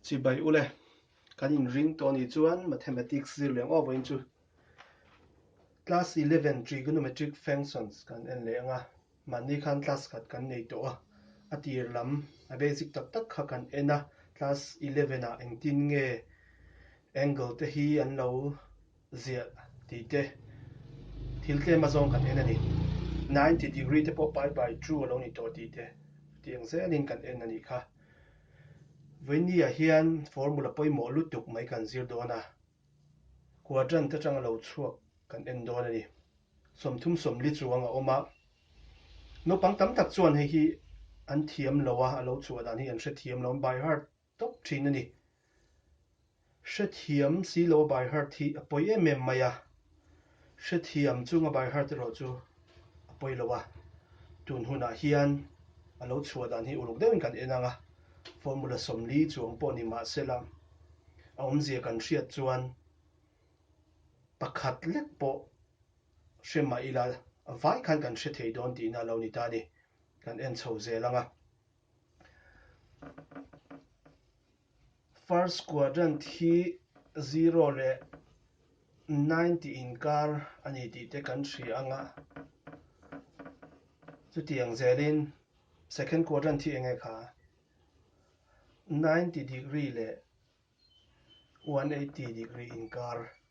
Chibai ule, kan inring tawh anih chuan Mathematics zirleng awk vawiin chu Class Eleven Trigonometric Functions kan en leh ang a, mahni khan class khat kan nei tawh a, a tir lam a basic tak tak kha kan en a, class eleven ah engtin nge angle te hi an lo ziah tih te, thil tlem azawng kan en a ni. Ninety degree te pawh pai by two a lo ni tawh tih te, ti ang zia nin kan en a nih kha. Vawinia hian formula pawimawh lutuk mai kan zir dawn a, quadrant atang a lo chhuak kan en dawn a ni. Sawmthum sawmli chuang a awm a, naupang tam tak chuan hei hi an thiam lo a, a lo chhuah dan hi an hrethiam lo, by heart tawp thin a ni. Hrethiam silo a by heart hi a pawi em em mai a, hrethiam chung a by heart erawh chu a pawi lo a, tun hunah hian a lo chhuah dan hi uluk deuhin kan en ang a, formula sawmli chuang pawh ni mah sela a awmzia kan hriat chuan pakhat lek pawh hre mah ila vai khan kan hre thei dawn tihna a lo ni ta a ni, kan en chho zel ang a. First quadrant hi zero leh nine tih inkar a ni tih te kan hria ang a, chutiang zelin second quadrant hi eng nge kha? Ninety degree leh one eighty degree inkar.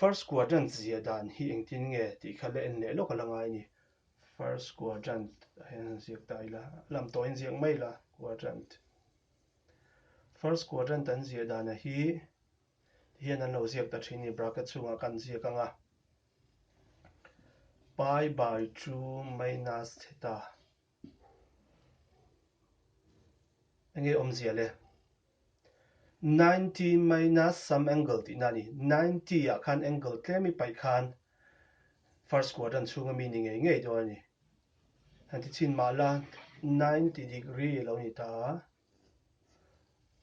First quadrant zia dan hi engtin nge tih kha la en leh lawk ala ngai ni. First quadrant ah hian han ziak ta ila, lam tawhin ziak mai ila quadrant. First quadrant an zia dan a hi ti hian an lo ziak ta thin ni bracket chhungah ka han ziak anga. Pi by two minus theta. Eng nge awmzia le? Ninety minus some angle tihna a ni. Ninety ah khan angle tlem i paih khan first quadrant chhunga mi ni ngei ngei dawn a ni. Han ti chin mah la ninety degree a lo ni ta a.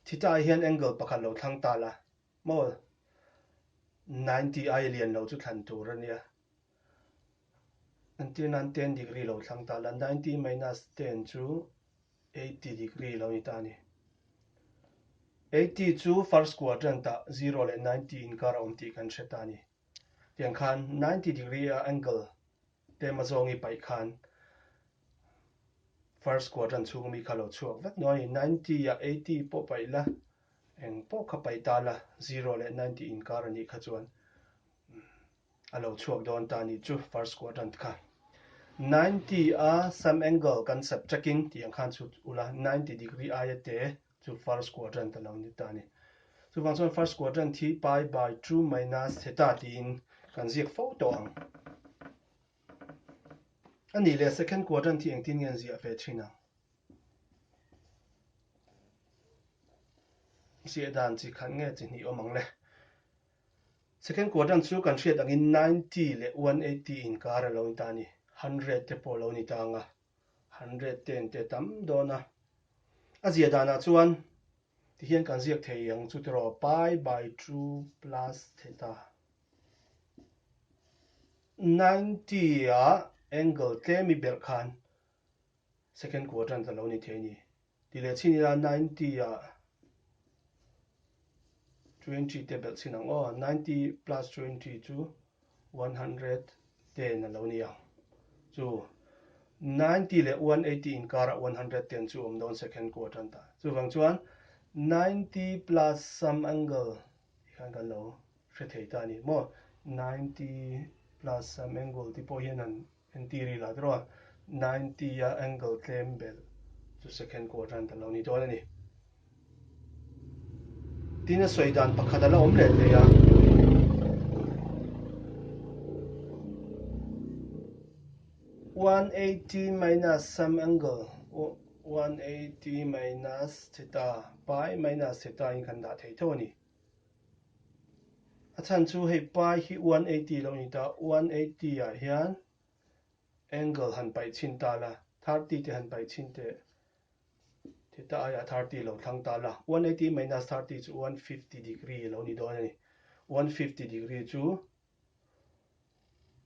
Theta ah hian angle pakhat lo thlang ta la. Maw ninety aia lian lo chu thlan tur a nia. An tir nan ten degree lo thlang ta la, ninety minus ten chu eighty degree lo ni ta a ni. Eighty chu first quadrant ah zero leh ninety inkar a awm tih kan hre ta a ni. Tiang khan ninety degree a angle tlema zawng i paih khan first quadrant chhung mi kha lo chhuak vek nuai a ni. Ninety ah eighty pawh paih la, eng pawh kha paih ta la, zero leh ninety inkar a nih kha chuan. a lo chhuak dawn ta ni chu first quadrant kha ninety a same angle kan sep chek in tih ang khan chu ula ninety degree aia te chu first quadrant a lo ni ta ni chuvang chuan first quadrant hi pi by two minus theta tiin kan ziak fo tawh ang ani le second quadrant hi engtin ngen ziah ve thin ang ziah dan chi khan nge chi hnih awm ang le Second quadrant chu kan hriat angin ninety leh one eighty inkar a lo ni ta a ni. Hundred te pawh a lo ni ta ang a, hundred te an te tam dawn a. A ziah danah chuan tihian kan ziak thei ang chu tiraw, pi by two plus theta. Ninety ah angle tlem i belh khan second quadrant a lo ni thei a ni. Ti leh chhin ila ninety a twenty te belh chhin ang aw ninety plus twenty chu one hundred ten alo ni ang chu ninety leh one eighty in kar ah one hundred ten chu awm dawn second quadrant ta chuvang chuan ninety plus some angle ti khan kan lo hre thei ta ni maw ninety plus some angle te pawh hian an Engti ri lah tiraw? Ninety a angle tlem belh chu second quadrant a lo ni dawn a ni. Tina sawi dan pakhat a la awm leh thei a. one eighty minus some angle one eighty minus theta pi minus theta in kan dah thei tho a ni A chhan chu hei pai hi one eighty lo ni ta, one eighty ah hian angle han paih chhin ta la, thirty te han paih chhin teh, tih ta aiah thirty lo thlang ta la. One eighty minus thirty chu one fifty degree lo ni dawn a ni. One fifty degree chu.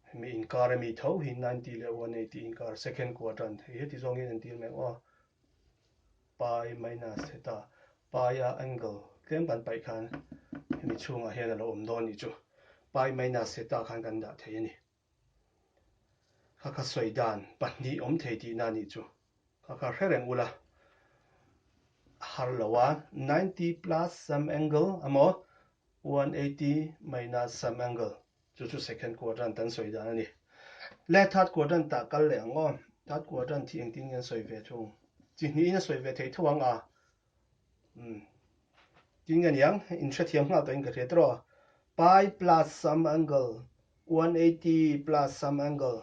Hemi inkar ami tho hi ninety leh one eighty inkar second quadrant hei heti zawngin an tir mai maw? Pi minus theta pi a angle tlem kan paih khan hemi chhungah hian a lo awm dawn ni chu pi minus theta khan kan dah thei a ni. Kha kha sawi dan pahnih awm thei tihna a nih chu. Ka ka hre reng ula har lo a, ninety plus some angle emaw one eighty minus some angle chu chu second quadrant kan sawi dan a ni. Le third quadrant ah kal leh ang aw, third quadrant hi engtin nge an sawi ve thung? Chi hnihin a sawi ve thei tho ang a, Tin nge niang, in hrethiam nghal takin ka hriat tiraw? Pi plus some angle, 180 plus some angle,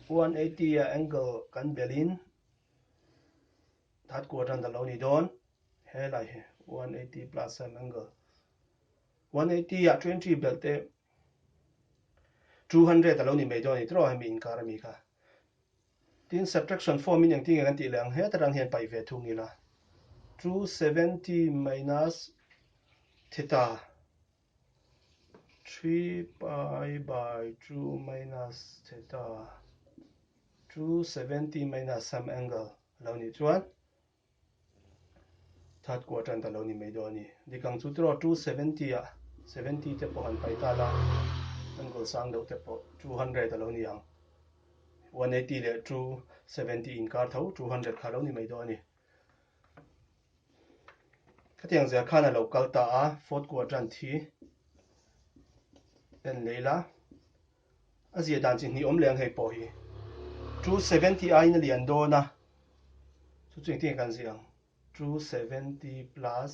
180 a angle kan belin that kuat ran lo ni dawn he lai he 180 plus some angle 180 a 20 belte 200 alo ni mai dawn ni tro hemi inkar ami kha Tin, subtraction form in engtin nge kan tih leh ang heta tan hian paih ve thung ila, two seventy minus theta three pi by two minus theta two seventy minus some angle lo nih chuan That kuah tan ta lo ni mai dawn a ni. Dikang chu tiraw two seventy ah seventy te pawh han pai ta la, an goal sang deuh te pawh two hundred a lo ni ang. One eighty leh two seventy inkar tho, two hundred kha a lo ni mai dawn a ni. Khatiang zia khan a lo kal ta a, fourth kuah tan thi en lei la, A ziah dan chi hnihawm leh ang hei pawh hi two seventy aiin a lian dawn a, chu chu engtin a kan ziah ang? two seventy plus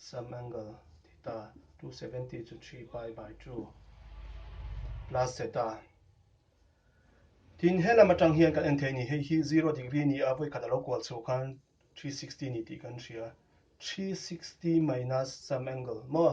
some angle theta, two seventy chu three pi by two plus zeta, tin he lam atang hian kan en thei a ni, hei hi zero degree a ni a, vawikhat a lo kual chhuah khan three sixty a ni tih kan hria, three sixty minus some angle maw?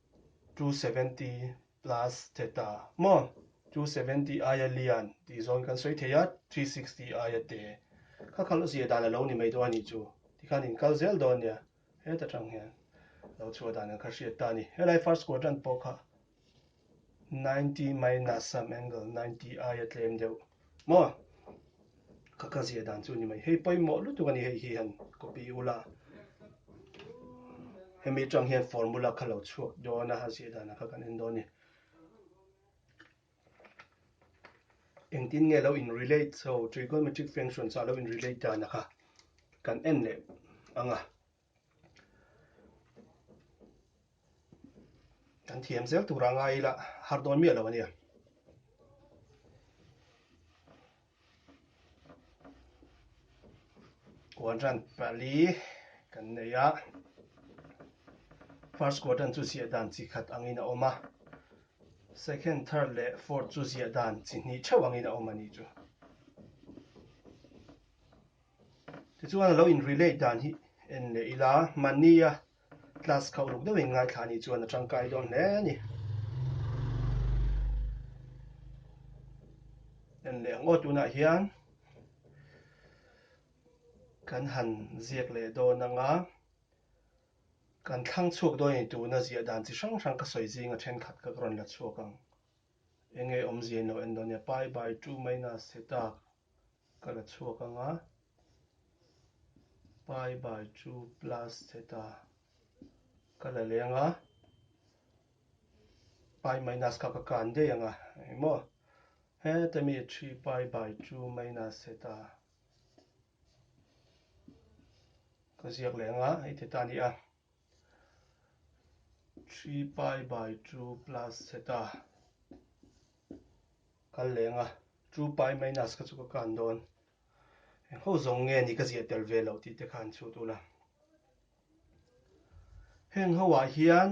two seventy plus che ta maw two seventy aia lian tih zawn kan sawi thei a three sixty aia te kha kha lawsih dan alo ni mai dawn a nih chu tikhan in kal zel dawn nia heta tang hian lo chhuah dan an kha hriat ta ni helai first quadrant pawh kha ninety minus some angle ninety aia tlem deuh Maw? Ka ka ziah dan chu ni mai. Hei pawimawh lutuk a ni hei hi han copy u la. Hemi tang hian formula kha lo chhuak dawn a, a ziah dan a kha kan en dawn ni. Engtin nge lo in relate so trigonometric function chu a lo in relate dan a kha kan en leh ang a. kan thiam zel tura ngai ila har dawn miah lo a nia quadrant pali kan nei a first quadrant chu ziah dan chi khat angin a awm a second third leh fourth chu ziah dan chi hnih theuh angin a awm a ni chu Tichuan, a lo inrelate dan hi en leh ila, mania class kha uluk deuhin ngaithla anih chuan a tangkai dawn hle a ni. En leh ngaw tunah hian kan han ziak leh dawn anga kan thlang chhuak dawn anih tuna ziah dan chi hrang hrang ka sawi zinga thenkhat ka rawn la chhuak ang. Enge awmzia in lo en dawn nia, pi by two minus theta. Ka la chhuak ang a, pai bai chu plus che ta ka la leng a, pai minus kha ka kan daih ang a eng maw? Heta mi three pai bai chu minus che ta ka ziak leh ang a, hei te ta a ni a. three pi by two plus zeta kan leng a two pi minus ka chu ka kan dawn engho zawng nge ni ka ziah tel ve lo tih te khan chu tu la heng ho ah hian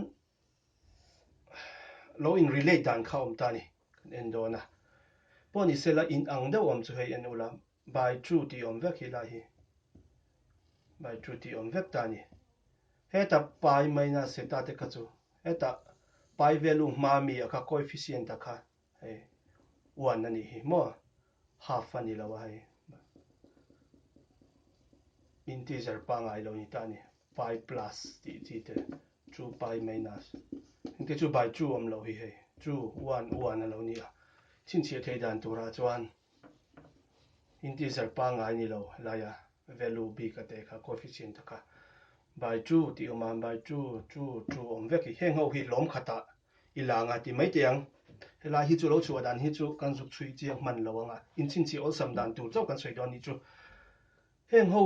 lo in relate dan kha awm ta ni kan en dawn a pawh ni sela in ang deuh awm chu hei en ula By True tih awm vek hi lai hi by true tih awm vek ta ni. Heta pi minus hi ta te kha chu heta pi value hma mi a kha coefficient a kha hei one a nih hi maw half a ni lo a hei integer pangai lo ni ta ni pi plus tih chi te true pi minus in te chu by true awm lo hi hei true one one a lo ni a chin chhiah thei dan tura chuan Integer pangngai ni lo laia value bik a teh kha coefficient ta kha by two tih awm a by two two two awm vek hi heng ho hi lawm khatah i lang a ti mai teh ang. Helai hi chu lo chhuah dan hi chu kan zuk chhui chiang hman lo ang a, inchinchhih awlsam dan tur chauh kan sawi dawn ni chu. Heng ho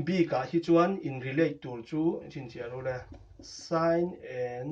bikah hi chuan in relate tur chu inchinchhia rule, sine and.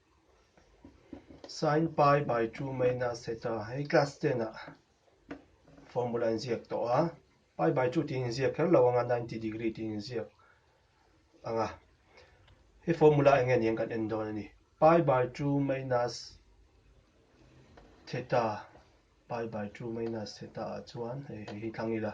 Sine pi by two minus theta hei class ten ah formula in ziak tawh a, pi by two tiin inziak kher lo ang a, ninety degree tiin inziak ang a. Hei formula eng nge ni ang kan en dawn a ni. Pi by two minus theta, pi by two minus theta ah chuan hei hi thlang ila.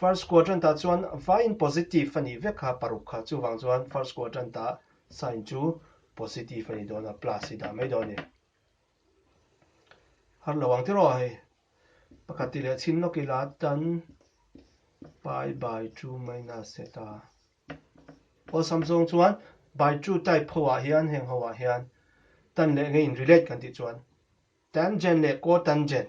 First quadrant ah chuan vaiin positive a nih vek a paruk kha, chuvang chuan first quadrant ah sign chu positive a ni dawn a, plus i dah mai dawn a ni. Harlo ang tiraw hei pakhat ti leh chhim lawk ila tan pi by two minus zeta awlsam zawng chuan by two type ho ah hian heng ho ah hian tan leh ngeiin relate kan tih chuan tangent leh cotangent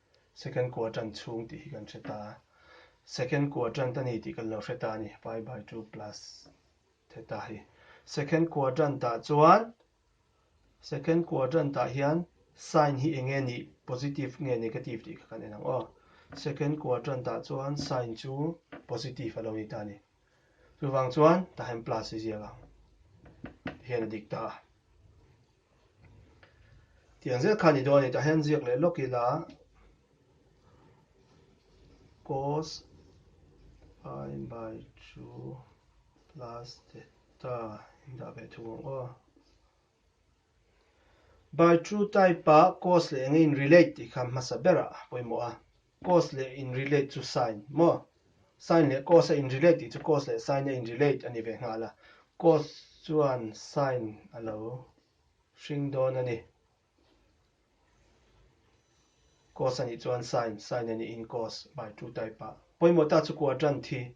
Second quadrant chhung tih hi kan hre ta a, second quadrant a ni tih kan lo hre ta a ni, pi by two plus theta hi. Second quadrant ah chuan, second quadrant ah hian sign hi enge ni, positive nge negative tih kha kan en ang aw. Second quadrant ah chuan sign chu positive a lo ni ta a ni. Chuvang chuan tah hian plus a ziak ang tih hian a dik ta a. Tiang zel kha ni dawn ani tah hian ziak leh lawk ila cos pi by 2 plus theta indah ve thung ang aw by 2 type a cos leh enge in relate tih kha hmasa berah pawimawh a Cause leh in relate chu sign maw? Sign leh cause-a in relate tih chu cause leh sign-a in relate a ni ve nghal a. Cause chuan sign a lo hring dawn a ni. Cause a nih chuan sign, sign a nihin cause, bai two type-a. Pawimawh ta chu kuaṭan thi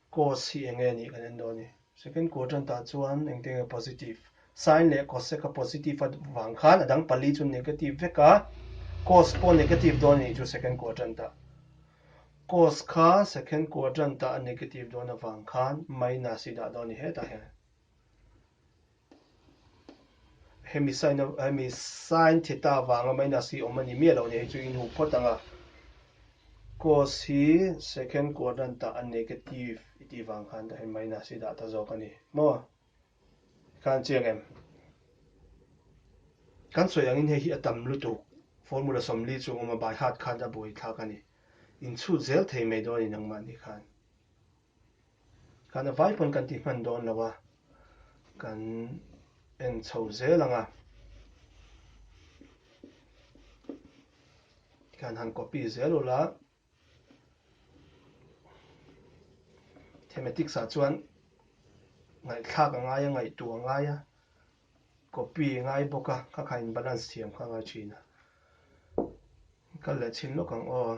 Cause hi eng nge nih kan en dawn a ni. Second quadrant ah chuan engte nge positive. Sine leh cosec a positive a vang khan a dang pali chu negative vek a, cause pawh negative dawn a nih chu second quadrant ah. Cause kha second quadrant ah a negative dawn avang khan minus i dah dawn a ni hetah hian. Hemi sign theta vanga minus hi awm a ni miah loh nia, hei chu in huk phawt ang a. Cos hi second quadrant ah a negative i tih vang khan ka hei minus hi dah ta zawk a ni maw? Khan chiang em? Kan sawi angin hei hi a tam lutuk formula sawmli chung awm a, by heart khan a buai thlak a ni. Inchhut zel thei mai dawn a ni nangmah ni khan. Kan a vai pawn kan ti hman dawn lo a, kan en chho zel ang a. Kan han copy zel ulh a. Thematics ah chuan ngaihthlak a ngai a, ngaihtuah a ngai a, copy a ngai bawk a, kha kha in balance thiam kha a ngai thin a. Kal leh chhin lawk ang aw.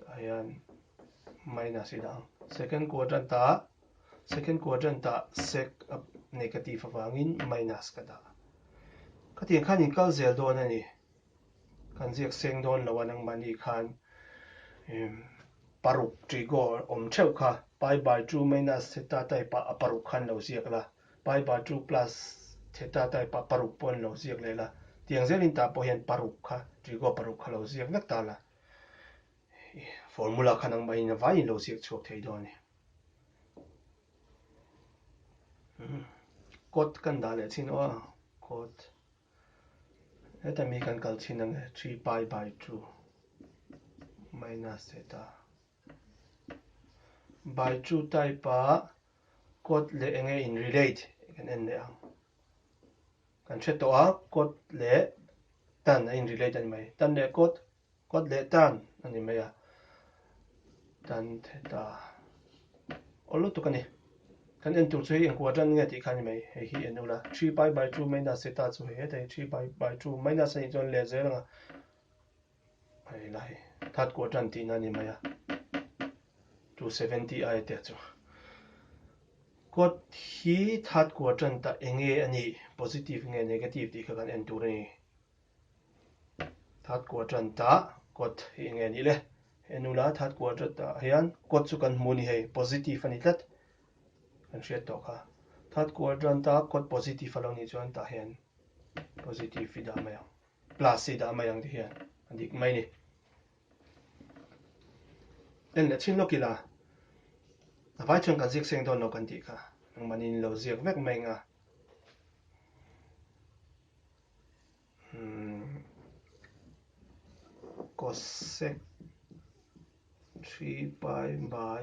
Tah hian minus i dah ang. Second quadrant-ah, second quadrant-ah sec a negative avangin minus ka dah. Ka tiang khan in kal zel dawn a ni. Kan ziak seng dawn lo a nangmahni khan em paruk trigo awm theuh kha pi by two minus theta type ah a paruk khan lo ziak la, pi by two plus theta type ah paruk pawh an lo ziak leh la. Tiang zelin tah pawh hian paruk kha, trigo paruk kha lo ziak vek ta la. Formula khan ang mahin avai in lo ziak chhuak thei dawn e. Code kan dah leh chin aw code heta mi kan kal chin ang e 3 pi by 2 minus theta by 2 type a code le enge in relate kan en leh ang Kan hre tawh a, kawt leh tan a in-relate a ni mai. Tan leh kawt, kawt leh tan a ni mai a. Tan theta awl lutuk a ni. Kan en tur chu hei engkuah tan nge tih kha a ni mai. Hei hi en ula, three pi by two minus theta chu hei hetei, three pi by two minus a nih chuan lehzir anga Hei la hei, that quadrant tihna ni mai a, 270 a etiah chu. Quad hi that quadrant a enge a ni, positive nge negative tih kha kan en tur a ni. That quadrant a quad hi enge a nih le? He nu la that quadrant ah hian quad chu kan hmu ni hei, positive a ni tlat. Kan hriat tawh kha. That quadrant a quad positive a lo nih chuan tah hian positive i dah mai ang. plus hi dah mai ang ti hian a dik mai ni en leh thin lawk ila a vai chuan kan ziak seng dawn lo kan tih kha engmahni in lo ziak vek mai nga cosec 3 pi by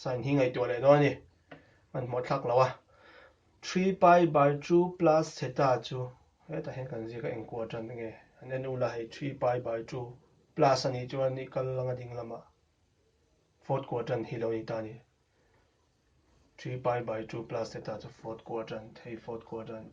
Sign hi ngaihtuah leh dawn a ni. Kan hmuh thlak lo a. Three pi by two plus theta chu hetah hian kan ziak a engkuah tan a nge. An en ula hei three pi by two plus a nih chuan i kal anga ding lamah fourth quadrant hi lo ni ta a ni. Three pi by two plus theta chu fourth quadrant, hei fourth quadrant.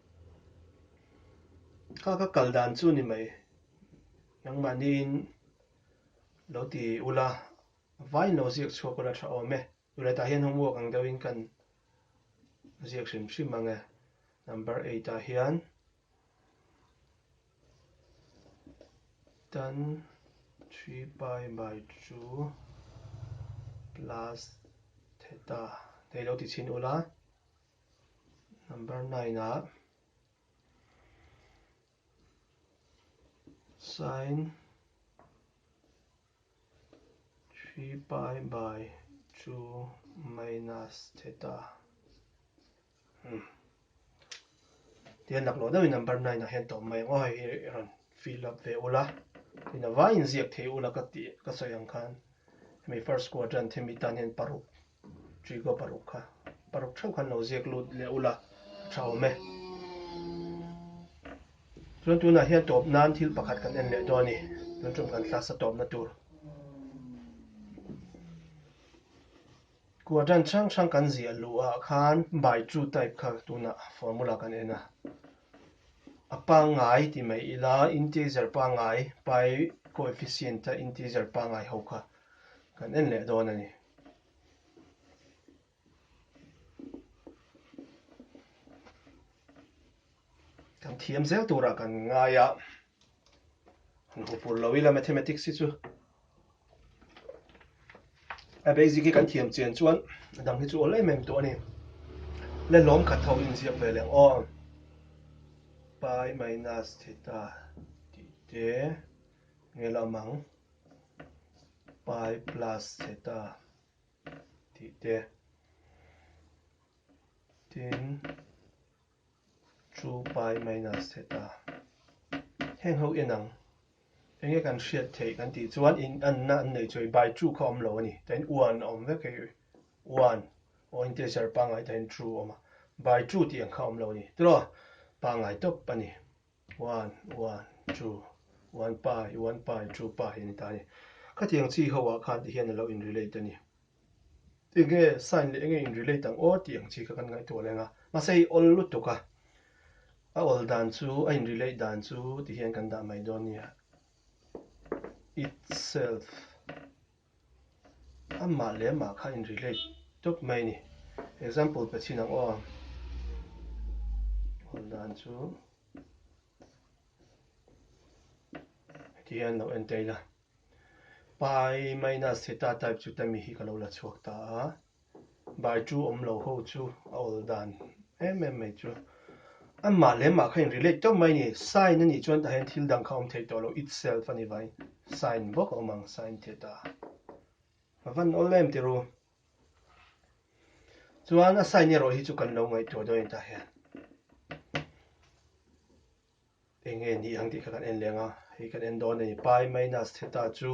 Kha ka kal dan chu ni mai. Nangmah niin lo ti ula, vain lo ziak chhuak ula tha awm e. Tule tah hian homework ang deuh in kan ziak hrim hrim ang e. Number eight ah hian tan three pi by two plus theta, hei lo ti chhin ula. Number nine ah Sine three pi by two minus theta hmm tian lak lo deuh in number nine ah hian tawm mai ang aw hei hi i rawn fill up ve ula tin a vai inziak thei ula ka tih ka sawi ang khan hemi first quadrant hemi tan hian paruk Trigo paruk kha paruk theuh khan lo ziak lut leh ula a tha awm e. Chuan tunah hian tawp nan thil pakhat kan en leh dawn a ni. Tun ṭum kan thlasa tawpna tur kua ṭan hrang hrang kan ziah luh ah khan by true type kha tunah formula kan en a. A pangngai ti mai ila integer pangngai pi coefficient a integer pangngai ho kha kan en leh dawn a ni. kan thiam zel turah kan ngai a kan hmu fur lo ila mathematics hi chu a basic hi kan thiam chian chuan a dang hi chu awlh em em tawh a ni le lawm khat ho inziak ve leng aw pi minus theta tih te nge lamang Pai plus zeta tih te tin two pai minus zeta heng ho en ang enge kan hriat theih kan tih chuan in an na an nei chawi by two kha awm lo a ni tain one a awm vek hi one aw integer pangai tain two a awm a by two tih ang kha awm lo a ni tiraw pangai tawp a ni. Wan, wan, chu, wan pa, i wan pa, i chu pa hi a ni ta a ni. Khatiang chi ho ah khan ti hian a lo in relate a ni. Enge sign leh enge in relate ang aw tih ang chi kha kan ngaihtuah leh ang a. Mahse hei awl lutuk a, a awl dan chu, a in relate dan chu ti hian kan dah mai dawn a ni. Itself. Amah leh mah kha in relate tawp mai ni. Example pe chin ang aw. Hawn dan chu heti hian lo en ta ila. Pai minus theta type chu ta mi hi ka lo la chhuak ta a. Baitu awm lo ho chu a awl dan em em mai chu. Amah leh mah kha in relate teuh mai ni. Sign a nih chuan tah hian thil dang kha awm theih tawh lo itself a ni vai. Sign bawk a awm ang sign tih a ta a. Ka van awl em tirh u. Chuan a sign erawh hi chu kan lo ngaihtuah dawn a ni tah hian. Enge nih ang tih kha kan en leng a. Hei kan en dawn a ni. Pai minus theta chu.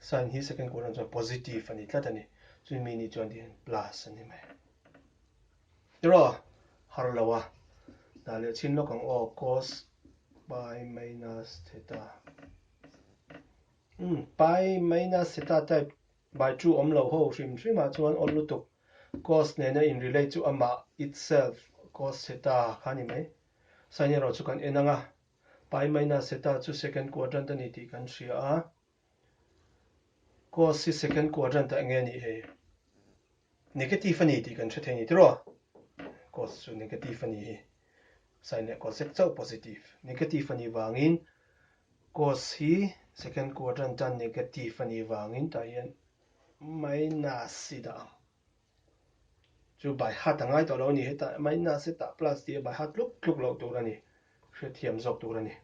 Sign hi second column chuan positive a ni tlat a ni. Chuan mi ni chuan tihian plus a ni mai. Erawh har lo a. Dah leh chhin lawk ang aw cos pi minus theta. Um, pi minus theta type by 2 awm lo ho hrim hrim ah chuan aw lutuk cos nena in relate chu amah itself cos theta kha ni mai. Sign erawh chu kan en ang a. Pi minus theta chu second quadrant a ni tih kan hria a. Course hi second quadrant ah nge nih hi negative a ni tih kan hre thei ni tiraw? Course chu negative a ni hi sine leh cosec chauh positive negative a ni vangin course hi second quadrant a negative a ni vangin tah hian minus i dah ang chu by heart a ngai tawh lo a ni heta minus heta plus tih a by heart tluk tluk lo tur a ni hrethiam zawk tur a ni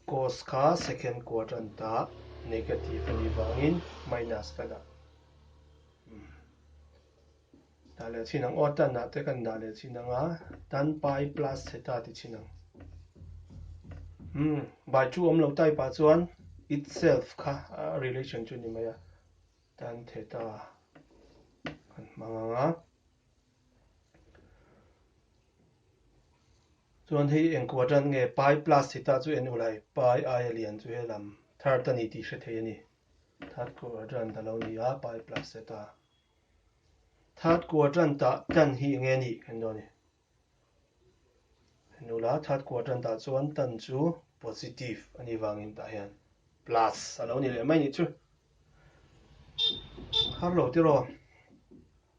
Course kha second quadrant a negative a nih vangin minus ka dah. Dah leh chin ang. Odd tan ah te kan dah leh chin ang a. Tan pi plus theta ti chin ang. Hmm, by 2 awm lo type ah chuan itself kha relation chu ni mai a. Tan theta kan hmang ang a. Chuan hei eng kuadan nge pai plus si ta chu en ul hai pai aia lian chu he lam thar ta ni tih hre thei a ni. Third quadrant ta lo nia pai plus se ta. Third quadrant ta tan hi enge ni kan do ni. En ula third quadrant ta chuan tan chu positive ani vangin ta hian plus a lo ni leh mai ni chu. Har lo tiraw.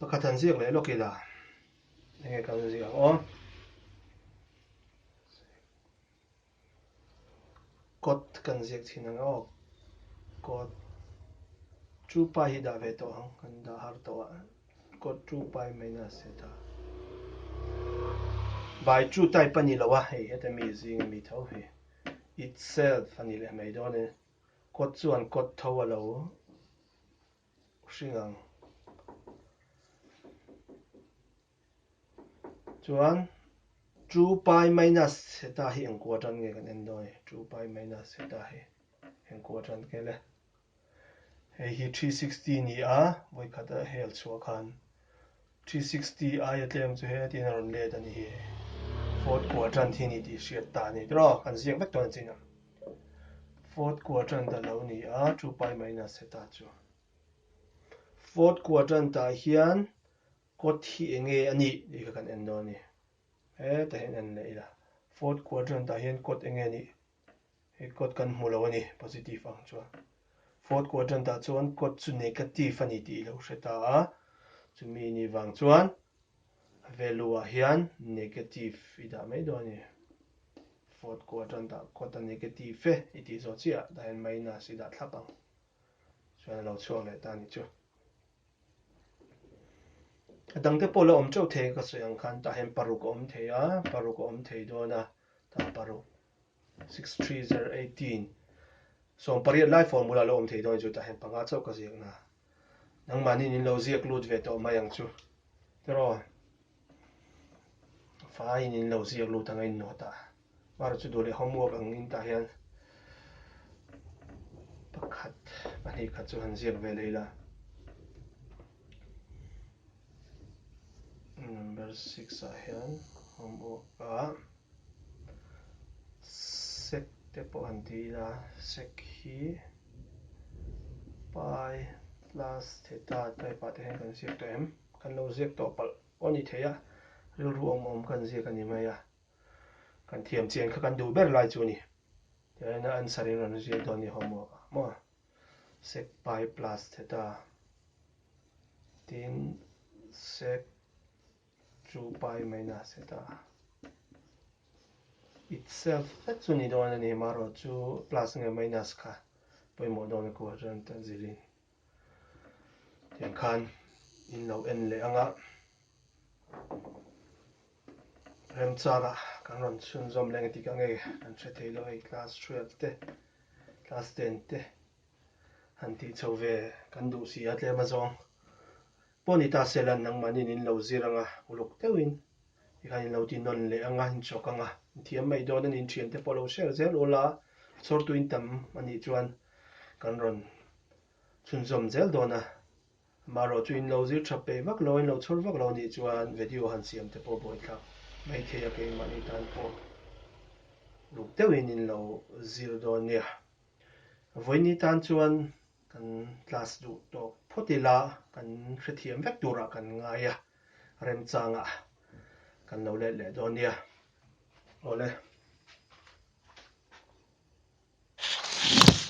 Pakhat han ziak leh lawk ila, enge ka han ziak aw. Kawt ka han ziak thin ang aw. Kawt two pi hi dah ve tawh ang, ka han dah har tawh a. Kawt two pi minus theta by two type a ni lo a, hei heta mi zing a ni tho hi. Itself a nih leh mai dawn e. Kawt chuan kawt tho a lo hring ang. Chuan two pi minus heta hi eng quarter nge kan en dawn e? two pi minus heta hi eng quarter ke le? Hei hi three sixty ni a, vawikhat a hel chhuah khan Three sixty aia tlem chu he tiin a rawn let a ni hi, fourth quadrant hi a ni tih hriat ta a ni. Tiraw, kan ziak vek dawn a chin a, fourth quadrant a lo ni a, two pi minus theta chu. Fourth quadrant ah hian kawt hi eng nge a nih tih kha kan en dawn a ni. Heta hi an en leh ila, fourth quadrant ah hian kawt eng nge a nih He quote kan hmu lo a ni, positive ang chuan. Fourth quadrant ah chuan quote chu negative a ni tih i lo hre ta a. Chumi ni vang chuan value ah hian negative i dah mai dawn a ni. Fourth quadrant ah quote a negative e i tih zawh chiah ah dah hian minus i dah thlap ang. Chuan a lo chhuak leh ta a ni chu. A dang te pawh la awm teuh thei ka sawi ang khan tah hian paruk a awm thei a, paruk a awm thei dawn a, tah paruk six three zero eighteen sawmpariat lai phone bulah la awm thei dawn chu tah hian panga chauh ka ziak na nangmahniin in lo ziak lut ve tawh mai ang chu tiraw faiin in lo ziak lut ang a innaw tah. Mara chu duh leh homework ang in tah hian pakhat pahnih khat chu han ziak ve leh ila. Number six ah hian homework ah sec te pawh han ti ila, sec hi pi plus theta type ah te hian kan ziak tawh em? Kan lo ziak tawh palh pawh a ni thei a, rilru awm awm kan ziak a ni mai a. Kan thiam chian kha kan duh ber lai chu a ni. Tunahina answer in rawn zir dawn ni homework ah maw? Sec pi plus theta tin sec 2 pi minus theta itself vek chu ni dawn a ni. Marawh chu plus nge minus kha pawimawh dawn a kual chuan ta zir in. Tiang khan in lo en leh ang a. Remchang ah kan rawn chhun zawm leh ang e tikah nge kan hre thei lo hei class twelve te class ten te han tih chho ve kan duh si a tlem azawng. Pawh ni ta Selan, nangmahniin in lo zir anga, uluk deuhin i khan in lo ti nawn leh anga, in chawk anga, inthiam mai dawn a ni, inthian te pawh lo share zel ul a, a chhawrtu in tam a nih chuan kan rawn chhunzawm zel dawn a, amah erawh chu in lo zir tha peih vak lo a, in lo chhawr vak lo a nih chuan vedio han siam te pawh buaithlak mai thei a, keimahni tan pawh uluk deuhin in lo zir dawn nia, vawiin ni tan chuan. Kan class duh tawk phawt ila kan hrethiam vek turah kan ngai a, remchangah kan lo let leh dawn nia. Awle.